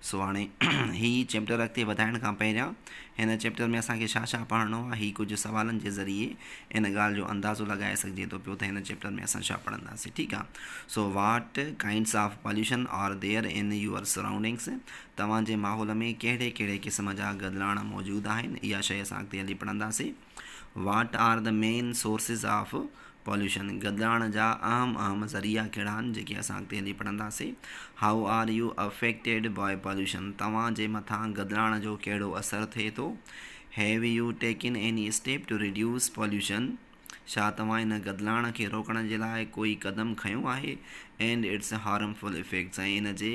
سو هاڻي هي چيپٽر اڳتي وڌائڻ کان پهريان هن چيپٽر ۾ اسان کي ڇا ڇا پڙهڻو آهي هي ڪجهه سوالن جي ذريعي ان ڳالهه جو اندازو لڳائي سگهجي ٿو پيو ته هن چيپٽر ۾ اسان ڇا پڙهنداسين ٺيڪ آهي so what kinds of pollution are there in your surroundings توهان جي ماحول ۾ ڪهڙي ڪهڙي قسم جا گدلاڻا موجود آهن اها شيء اسان اڳتي هلي پڙهنداسين what are the main sources of pollution, گدلاڻ جا اهم اهم ذريعا ڪهڙا آهن جيڪي اسان اڳتي هلي پڙهنداسين. How are you affected by pollution, توهان جي مٿان گدلاڻ جو ڪهڙو اثر ٿئي ٿو. Have you taken any step to reduce pollution, ڇا توهان هن گدلاڻ کي روڪڻ جي لاء ڪوئي قدم کنيو آهي. اينڊ اٽس هارمفل افيڪٽس ۽ ان جي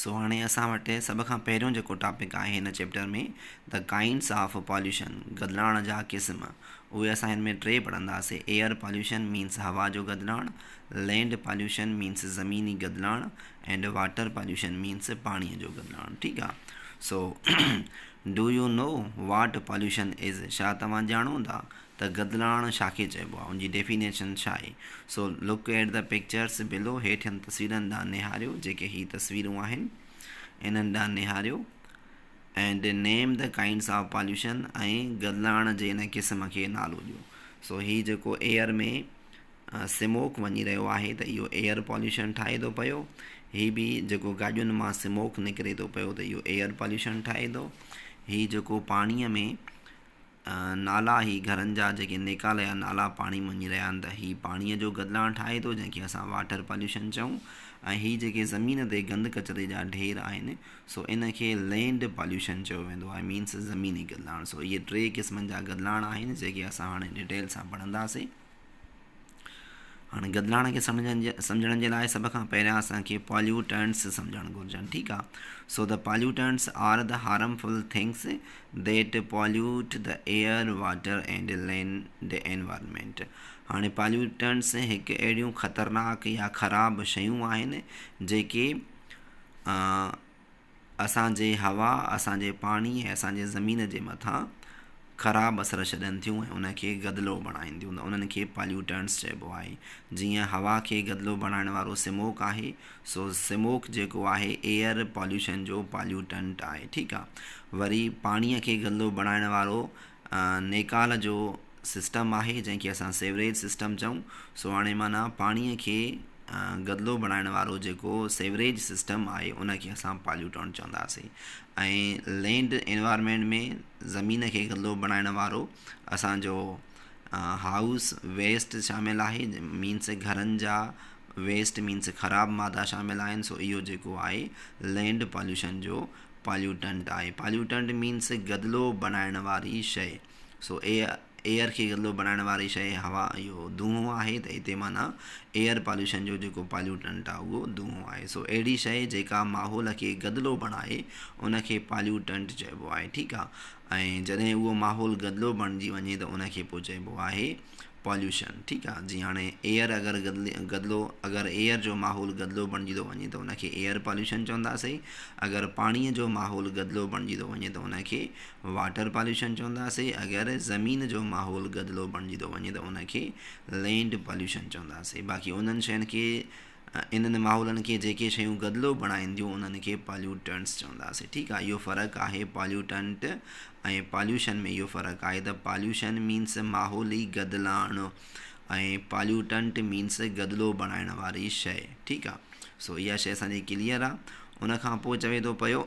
سو هاڻي اسان وٽ سڀ کان پهريون جيڪو ٽاپڪ آهي هن chapter ۾ The Kinds of Pollution گدلاڻ جا قسم اهي اسان هن ۾ ٽي پڙهنداسين Air Pollution Means هوا جو گدلاڻ Land Pollution Means زميني گدلاڻ And Water Pollution Means پاڻي جو گدلاڻ ٺيڪ آ so do you know what pollution is ڇا توهان ڄاڻو ٿا ته گدلاڻ ڇا کي چئبو آهي، ان جي ڊيفينيشن ڇا آهي؟ So look at the pictures below هيٺين تصويرن ڏانهن نهاريو، جيڪي هي تصويرون آهن، انهن ڏانهن نهاريو، ائنڊ نيم دي ڪائنڊس آف پاليوشن ۽ گدلاڻ جي ان قسم کي نالو ڏيو. سو هي جيڪو ايئر ۾ سموڪ وڃي رهيو آهي ته اهو ايئر پاليوشن ٺاهي ٿو پيو، هي به جيڪو گاڏين مان سموڪ نڪري ٿو پيو ته اهو ايئر پاليوشن ٺاهي ٿو، هي جيڪو پاڻيء ۾ نالا هي گهرن جا جيڪي نيڪالا يا نالا پاڻي مان وڃي رهيا آهن ته هي پاڻيء جو گدلاڻ ٺاهي ٿو جنهن کي اسان واٽر پاليوشن چئون ۽ هي جيڪي زمين تي گند ڪچري جا ڍير آهن سو ان کي لينڊ پاليوشن چيو ويندو آهي مينس زميني گدلاڻ سو اهي ٽي قسمن جا گدلاڻ آهن جيڪي اسان هاڻي ڊٽيل سان پڙهنداسين. هاڻي گدلاڻي کي سمجهن جي سمجهڻ جي لاء سڀ کان پهريان اسان کي پاليوٽنس سمجهڻ گهرجن ٺيڪ آ so the pollutants are the harmful things that pollute the air water and land environment هاڻي پاليوٽنس هڪ اهڙيون خطرناڪ يا خراب شيون آهن جيڪي اسان جي هوا، اسان جي پاڻي ۽ اسان جي زمين جي مٿان خراب اثر ڇڏين ٿيون ۽ ان کي گدلو بڻائين ٿيون ته انهن کي Pollutants چئبو آهي. جيئن هوا کي گدلو بڻائڻ وارو سموڪ آهي سو سموڪ جيڪو آهي Air Pollution جو Pollutant آهي ٺيڪ آهي وري پاڻي کي گدلو بڻائڻ وارو نيڪال جو سسٽم آهي جنهن کي اسان سيوريج سسٽم چئون سو هاڻي معنيٰ پاڻيء کي گدلو بڻائڻ وارو جيڪو سيوريج سسٽم آهي ان کي اسان پاليوٽنٽ چونداسين ۽ لينڊ انوائرمينٽ ۾ زمين کي گدلو بڻائڻ وارو اسانجو هائوس ويسٽ شامل آهي مينس گهرن جا ويسٽ مينس خراب مادا شامل آهن سو اهو جيڪو آهي لينڊ پاليوشن جو پاليوٽنٽ آهي Pollutant Means گدلو بڻائڻ واري شيء سو Air کي گدلو بڻائڻ واري شيء هوا اهو دونهون آهي ته هتي معنيٰ Air Pollution جو جيڪو Pollutant آهي اهو دونهون آهي سو اهڙي شيء جيڪا ماحول کي گدلو بڻائي ان کي Pollutant چئبو آهي ٺيڪ آهي ۽ جڏهن اهو ماحول گدلو بڻجي وڃي ته ان کي پوء چئبو آهي پاليوشن ٺيڪ آ جي هاڻي ايئر اگر گدلو اگر ايئر جو ماحول گدلو بڻجي ٿو وڃي ته ان کي ايئر پاليوشن چونداسين اگر پاڻيء جو ماحول گدلو بڻجي ٿو وڃي ته ان کي واٽر پاليوشن چونداسين اگر زمين جو ماحول گدلو بڻجي ٿو وڃي ته ان کي لينڊ پاليوشن چونداسين باقي انهن شين کي انهن ماحولن کي جيڪي شيون گدلو بڻائينديون انهن کي پاليوٽنٽس چونداسين ٺيڪ آهي اهو فرق آهي پاليوٽنٽ ۽ پاليوشن ۾ اهو فرق آهي ته پاليوشن مينس ماحولي گدلاڻ ۽ پاليوٽنٽ مينس گدلو بڻائڻ واري شيء ٺيڪ آهي سو اها شيء اسان جي ڪليئر آهي ان کان پوء چوي ٿو پيو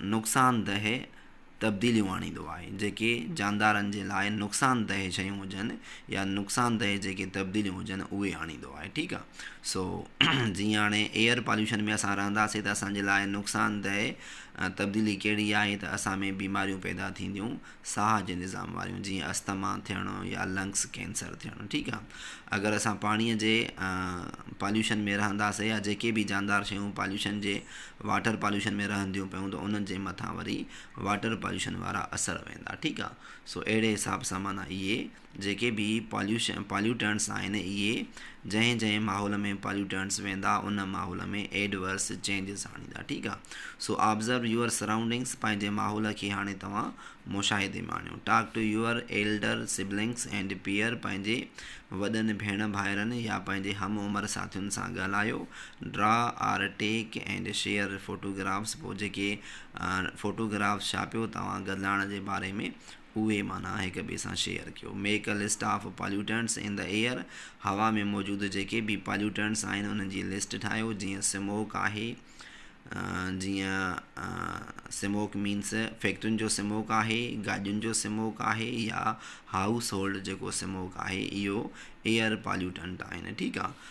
نقصاندهه تبديليون آڻيندو آهي، جيڪي جاندارن جي لاء نقصاندهه شيون هجن يا نقصاندهه جيڪي تبديليون هجن اهي آڻيندو آهي ٺيڪ آ سو جيئن هاڻي ايئر پاليوشن ۾ اسان رهنداسين ته اسان جي لاء نقصاندهه تبديلي ڪهڙي آهي ته اسان ۾ بيماريون پيدا ٿينديون ساهه جي نظام واريون جيئن اسٿما ٿيڻ يا لنگس ڪينسر ٿيڻ ٺيڪ آ اگر اسان پاڻي جي پاليوشن ۾ رهنداسين يا جيڪي به جاندار شيون پاليوشن جي واٽر پاليوشن ۾ رهنديون پيون ته انهن جي مٿان وري واٽر پاليوشن وارا اثر ويندا ٺيڪ آ سو اهڙي حساب سان معنيٰ اهي جيڪي به پاليوشن پاليوٽنٽس آهن اهي جنهن جنهن ماحول ۾ پاليوٽنٽس ويندا ان ماحول ۾ ايڊورس چينجز آڻيندا ٺيڪ آهي سو آبزرو يوئر سرائونڊنگس پنهنجي ماحول کي هاڻي توهان مشاهدي ۾ آڻيو talk to your elder siblings and peer پنهنجي وڏن ڀيڻ ڀائرن يا پنهنجي هم عمر ساٿين سان ڳالهايو draw or take and share photographs پوء جيڪي فوٽوگرافس ڇاپيو توهان گدلاڻ جي باري ۾ اهي معنيٰ هڪ ٻئي سان شيئر ڪيو. Make a list of pollutants in the air, هوا ۾ موجود جيڪي به پاليوٽنٽس آهن انهن جي لسٽ ٺاهيو، جيئن سموڪ آهي، جيئن سموڪ مينس فيڪٽرين جو سموڪ آهي، گاڏين جو سموڪ آهي يا هائوس هولڊ جيڪو سموڪ آهي اهو ايئر پاليوٽنٽ آهن ٺيڪ آ.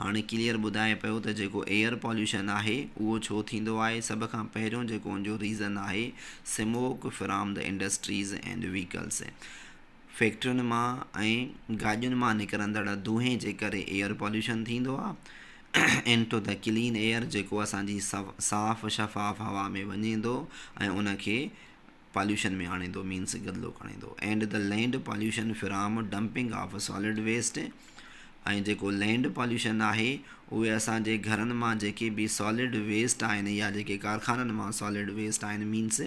هاڻي ڪليئر ٻڌائي پيو ته جيڪو ايئر پاليوشن آهي اهو ڇو ٿيندو آهي سڀ کان پهريون جيڪو ان جو ريزن آهي smoke from the industries and vehicles فيڪٽرين مان ۽ گاڏين مان نڪرندڙ دونهين جي ڪري ايئر پاليوشن ٿيندو آهي into the clean air جيڪو اسان جي صاف شفاف هوا ۾ وڃي ٿو ۽ ان کي پاليوشن ۾ آڻيندو مينس گدلو کڻيندو and the land pollution from dumping of solid waste ۽ جيڪو لينڊ پاليوشن آهي اهي اسان جي گهرن مان جيڪي به سالڊ ويسٽ آهن يا جيڪي ڪارخانن مان سالڊ ويسٽ آهن مينس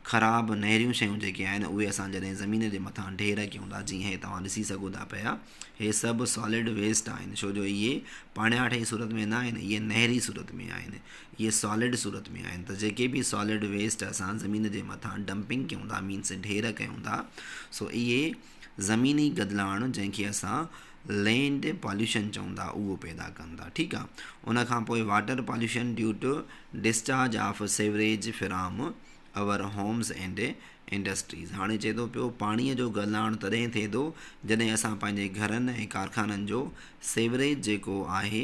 خراب نهريون شيون جيڪي آهن اهي اسان جڏهن زمين جي مٿان ڍير ڪيون ٿا جيئن هي توهان ڏسي سگهو ٿا پيا هي سڀ سالڊ ويسٽ آهن ڇو جو اهي پاڻياٺ جي صورت ۾ نه آهن اهي نهري صورت ۾ آهن اهي سالڊ صورت ۾ آهن ته جيڪي به سالڊ ويسٽ اسان زمين جي مٿان ڊمپنگ ڪيون ٿا مينس ڍير ڪيون ٿا سو اهي زميني گدلاڻ جنهن کي اسان لينڊ پاليوشن چون ٿا اهو پيدا ڪن ٿا ٺيڪ آ ان کان پوء water pollution due to discharge of سيوريج from our homes and industries هاڻي چئي ٿو پيو پاڻي جو گدلاڻ تڏهن ٿئي ٿو جڏهن اسان پنهنجي گهرن ۽ ڪارخانن جو سيوريج جيڪو آهي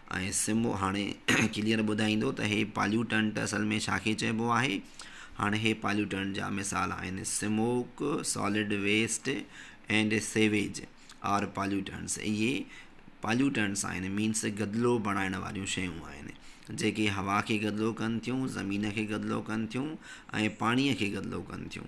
۽ سم هاڻي ڪليئر ٻڌائيندو ته هي پاليوٽنٽ اصل ۾ ڇا کي چئبو آهي. هاڻي هي پاليوٽنٽ جا مثال آهن، smoke, solid waste and sewage are pollutants اهي پاليوٽنٽس آهن مينس گدلو بڻائڻ واريون شيون آهن جيڪي هوا کي گدلو ڪن ٿيون، زمين کي گدلو ڪن ٿيون ۽ پاڻي کي گدلو ڪن ٿيون.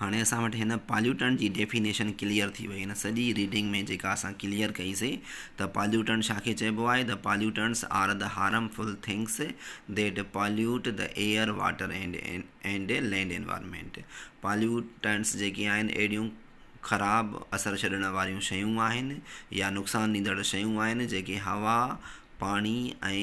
هاڻي اسان وٽ هن پاليوٽنٽ جي ڊيفينيشن ڪليئر ٿي وئي هن سڄي ريڊنگ ۾ جيڪا اسان ڪليئر ڪئي سي ته پاليوٽنٽ ڇا کي چئبو آهي ته pollutants are the harmful things that pollute the air water and and land environment pollutants جيڪي آهن اهڙيون خراب اثر ڇڏڻ واريون شيون آهن يا نقصان ڏيندڙ شيون آهن جيڪي هوا پاڻي ۽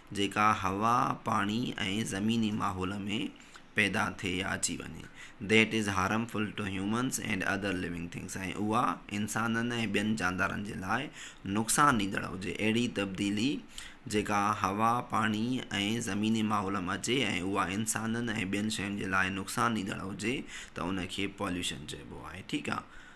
جيڪا هوا، پاڻي ۽ زميني ماحول ۾ پيدا ٿئي يا اچي وڃي That is harmful to humans and other living things ۽ اها انسانن ۽ ٻين جاندارن جي لاء نقصان ڏيندڙ هجي اهڙي تبديلي جيڪا هوا، پاڻي ۽ زميني ماحول ۾ اچي ۽ اها انسانن ۽ ٻين شين جي لاء نقصان ڏيندڙ هجي ته ان کي Pollution چئبو آهي ٺيڪ آ.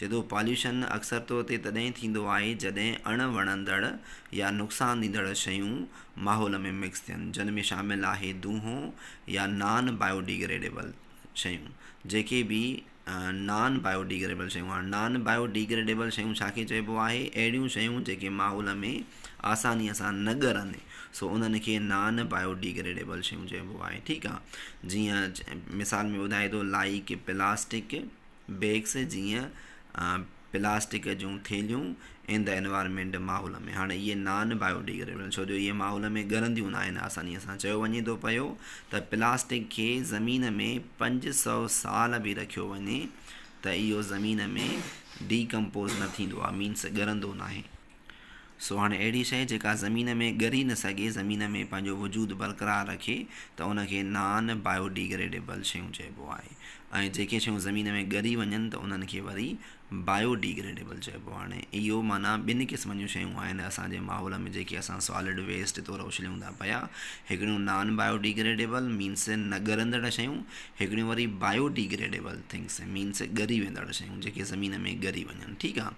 جدو پاليوشن اڪثر طور تي تڏهن ٿيندو آهي جڏهن اڻ وڻندڙ يا نقصان ڏيندڙ شيون ماحول ۾ مڪس ٿين جن ۾ شامل آهي دونهون يا نان بائيوڊيگريڊيبل شيون جيڪي به نان بائيوڊيگريبل شيون هاڻ نان بائيوڊيگريڊيبل شيون ڇا کي چئبو آهي اهڙيون شيون جيڪي ماحول ۾ آساني سان نه ڳرن سو انهن کي نان بائيوڊيگريڊيبل شيون چئبو آهي ٺيڪ آهي جيئن مثال ۾ ٻڌائي ٿو لائيڪ پلاسٽڪ بيگس جيئن پلاسٽڪ جون ٿيلهيون ان دي انوائرمينٽ ماحول ۾ هاڻي اهي نان بايو ڊيگريڊيبل آهن ڇو جو اهي ماحول ۾ ڳرنديون نه آهن آسانيء سان چيو وڃي ٿو پيو ته پلاسٽڪ کي زمين ۾ پنج سؤ سال به رکيو وڃي ته اهو زمين ۾ ڊي ڪمپوز نه ٿيندو آهي مينس ڳرندو ناهي سو هاڻي اهڙي شيء جيڪا زمين ۾ ڳري نه سگهي، زمين ۾ پنهنجو وجود برقرار رکي ته ان کي نان بايو ڊيگريڊيبل شيون چئبو آهي ۽ جيڪي شيون زمين ۾ ڳري وڃن ته انهن کي وري بايو ڊيگريڊيبل چئبو آهي اهو معنيٰ ٻن قسمن جون شيون آهن اسان جي ماحول ۾ جيڪي اسان سالڊ ويسٽ طور اڇليون ٿا پيا هڪڙيون نان بايو ڊيگريڊيبل مينس نه ڳرندڙ شيون هڪڙيون وري بايو ڊيگريڊيبل ٿنگس مينس ڳري ويندڙ شيون جيڪي زمين ۾ ڳري وڃن ٺيڪ آهي.